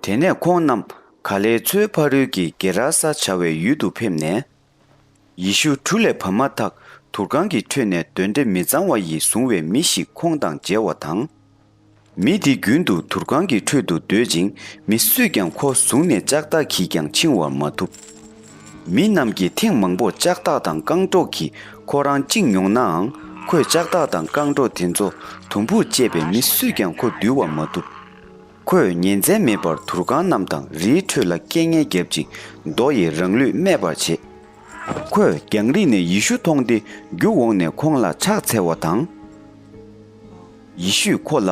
དེ་ནས་ཁོང་རྣམས་ག་ལེའི་མཚོའི་ཕ་རོལ་གྱི་གེ་ར་ས་བྱ་བའི་ཡུལ་དུ་ཕེབས་ནས། ཡེ་ཤུ་གྲུ་ལས་བབས་མ་ཐག་དུར་ཁང་གི་ཁྲོད་ནས་གདོན་འདྲེ་མི་གཙང་བ་ཡིས་བཟུང་བའི་མི་ཞིག་ཁོང་དང་མཇལ་བ་དང། མི་དེ་རྒྱུན་དུ་དུར་ཁང་གི་ཁྲོད་དུ་སྡོད་ཅིང་མི་སུས་ཀྱང་ཁོ་བཟུང་ནས་ལྕགས་ཐག་གིས་ཀྱང་འཆིང་བར་མ་ཐུབ། མི་རྣམས་ཀྱིས་ཐེངས་མང་པོར་ལྕགས་ཐག་དང་རྐང་སྒྲོག་གིས་ཁོ་རང་བཅིངས་མྱོང་ནའང་ཁོས་ལྕགས་ཐག་དང་རྐང་སྒྲོག་དེ་ཚོ་དུམ་བུར་བཅད་པས་མི་སུས་ཀྱང་ཁོ་འདུལ་བར་མ་ཐུབ། ཁོས་ཉིན་མཚན་མེད་པར་དུར་ཁང་རྣམས་དང་རིའི་ཁྲོད་ལ་སྐད་ངན་བརྒྱབ་ཅིང་རྡོ་ཡིས་རང་ལུས་རྨས་པར་བྱེད། ཁོས་རྒྱང་རིང་ནས་ཡེ་ཤུ་མཐོང་སྟེ་རྒྱུག་འོངས་ནས་ཁོང་ལ་ཕྱག་འཚལ་བ་དང། ཡེ་ཤུས་ཁོ་ལ།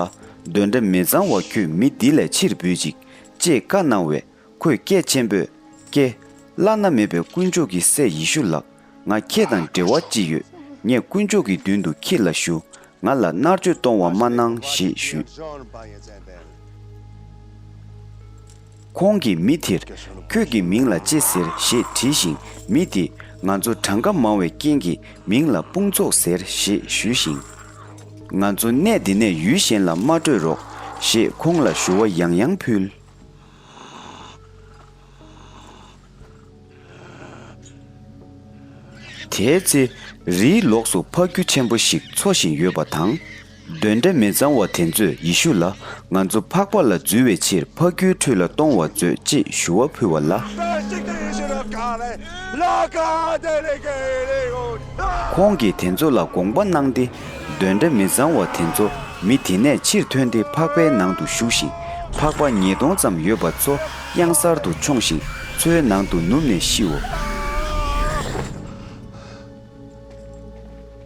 གདོན་འདྲེ་མི་གཙང་བ་ཁྱོད་མི་འདི་ལས་ཕྱིར་བུད་ཅིག་ཅེས་བཀའ་གནང་བས། ཁོས་སྐད་ཆེན་པོས་ཀྱེ། བླ་ན་མེད་པའི་དཀོན་མཆོག་གི་སྲས་ཡེ་ཤུ་ལགས་ང་ཁྱེད་དང་འབྲེལ་བ་ཅི་ཡོད་ངས་དཀོན་མཆོག་གི་མདུན་དུ་ཁྱེད་ལ་ཞུ་ང་ལ་མནར་གཅོད་གཏོང་བ་མ་གནང་ཞེས་ཞུས། ཁོང་གིས་མི་དེར་ཁྱོད་ཀྱི་མིང་ལ་ཅི་ཟེར་ཞེས་དྲིས་ཤིང་མི་དེས་ང་ཚོ་གྲངས་ཀ་མང་བའི་རྐྱེན་གྱིས་མིང་ལ་དཔུང་ཚོགས་ཟེར་ཞེས་ཞུས་ཤིང། ང་ཚོ་གནས་འདི་ནས་ཡུལ་གཞན་ལ་མ་བྲོས་རོགས་ཞེས་ཁོང་ལ་ཞུ་བ་ཡང་ཡང་ཕུལ། དེའི་ཚེ། རིའི་ལོགས་སུ་ཕ་གུ་ཆེན་པོ་ཞིག་འཚོ་བཞིན་ཡོད་པ་དང། གདོན་འདྲེ་མི་གཙང་བ་དེ་ཚོས་ཡེ་ཤུ་ལ་ང་ཚོ་འཕགས་པ་ལ་འཛུལ་བའི་ཕྱིར་ཕ་གུའི་ཁྲུས་ལ་གཏོང་བར་མཛོད་ཅེས་ཞུ་བ་ཕུལ་བ་ལ། ཁོང་གིས་དེ་ཚོ་ལ་དགོངས་པ་གནང་སྟེ། འདོན་སྒྲ་མི་གཙང་བ་དེ་ཚོ་མི་དེ་ནས་ཕྱིར་ཐོན་ཏེ་ཕག་པའི་ནང་དུ་ཞུགས་ཤིང་ཕག་པ་ཉིས་སྟོང་ཙམ་ཡོད་པ་ཚོ་གཡང་གཟར་དུ་མཆོངས་ཤིང་མཚོའི་ནང་དུ་ནུབ་ནས་ཤིའོ།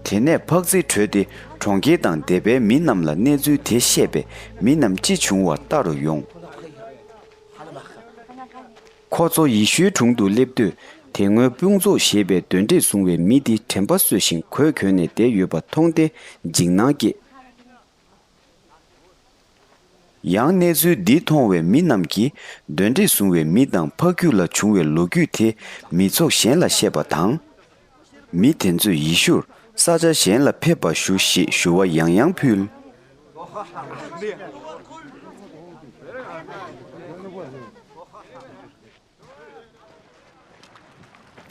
དེ་ནས་ཕག་རྫི་བྲོས་ཏེ་གྲོང་ཁྱེར་དང་སྡེ་པའི་མི་རྣམས་ལ་གནས་ཚུལ་དེ་བཤད་པས་མི་རྣམས་ཅི་བྱུང་བ་ལྟ་རུ་ཡོང། ཁོ་ཚོ་ཡེ་ཤུའི་དྲུང་དུ་སླེབས་དུས་དེ་སྔོན་དཔུང་ཚོགས་ཞེས་པའི་གདོན་འདྲེས་བཟུང་བའི་མི་འདི་དྲན་པ་སོས་ཤིང་གོས་གྱོན་ནས་བསྡད་ཡོད་པ་མཐོང་སྟེ་འཇིགས་སྣང་སྐྱེས། ཡང་གནས་ཚུལ་འདི་མཐོང་བའི་མི་རྣམས་ཀྱིས་གདོན་འདྲེས་བཟུང་བའི་མི་དང་ཕ་ཁྱུ་ལ་བྱུང་བའི་ལོ་རྒྱུས་དེ་མི་ཚོགས་གཞན་ལ་བཤད་པ་དང། མི་དེ་ཚོས་ཡེ་ཤུར་ས་ཆ་གཞན་ལ་ཕེབས་པར་ཞུ་ཞེས་ཞུ་བ་ཡང་ཡང་ཕུལ།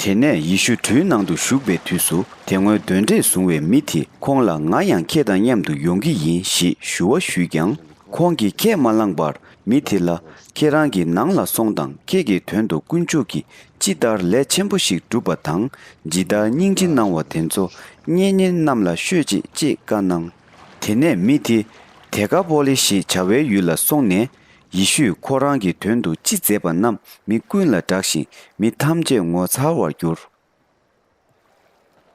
དེ་ནས་ཡེ་ཤུ་གྲུའི་ནང་དུ་བཞུགས་པའི་དུས་སུ་དེ་སྔོན་གདོན་འདྲེས་བཟུང་བའི་མི་དེ་ཁོང་ལ་ང་ཡང་ཁྱེད་དང་མཉམ་དུ་ཡོང་གི་ཡིན་ཞེས་ཞུ་བ་ཞུས་ཀྱང། ཁོང་གིས་ཁས་མ་བླངས་པར་མི་དེ་ལ་ཁྱེད་རང་གི་ནང་ལ་སོང་དང་ཁྱེད་ཀྱི་དོན་དུ་དཀོན་མཆོག་གི་ཅི་ལྟར་ལས་ཆེན་པོ་ཞིག་བསྒྲུབ་པ་དང་ཇི་ལྟར་སྙིང་རྗེ་གནང་བ་དེ་ཚོ་གཉེན་ཉེ་རྣམས་ལ་ཤོད་ཅིག་ཅེས་བཀའ་གནང། དེ་ནས་མི་དེ་དེ་ཀ་པོ་ལེ་ཞེས་བྱ་བའི་ཡུལ་ལ་སོང་ནས། ཡེ་ཤུས་ཁོ་རང་གི་དོན་དུ་ཅི་མཛད་པ་རྣམས་མི་ཀུན་ལ་བསྒྲགས་ཤིང་མི་ཐམས་ཅད་ངོ་མཚར་བར་གྱུར།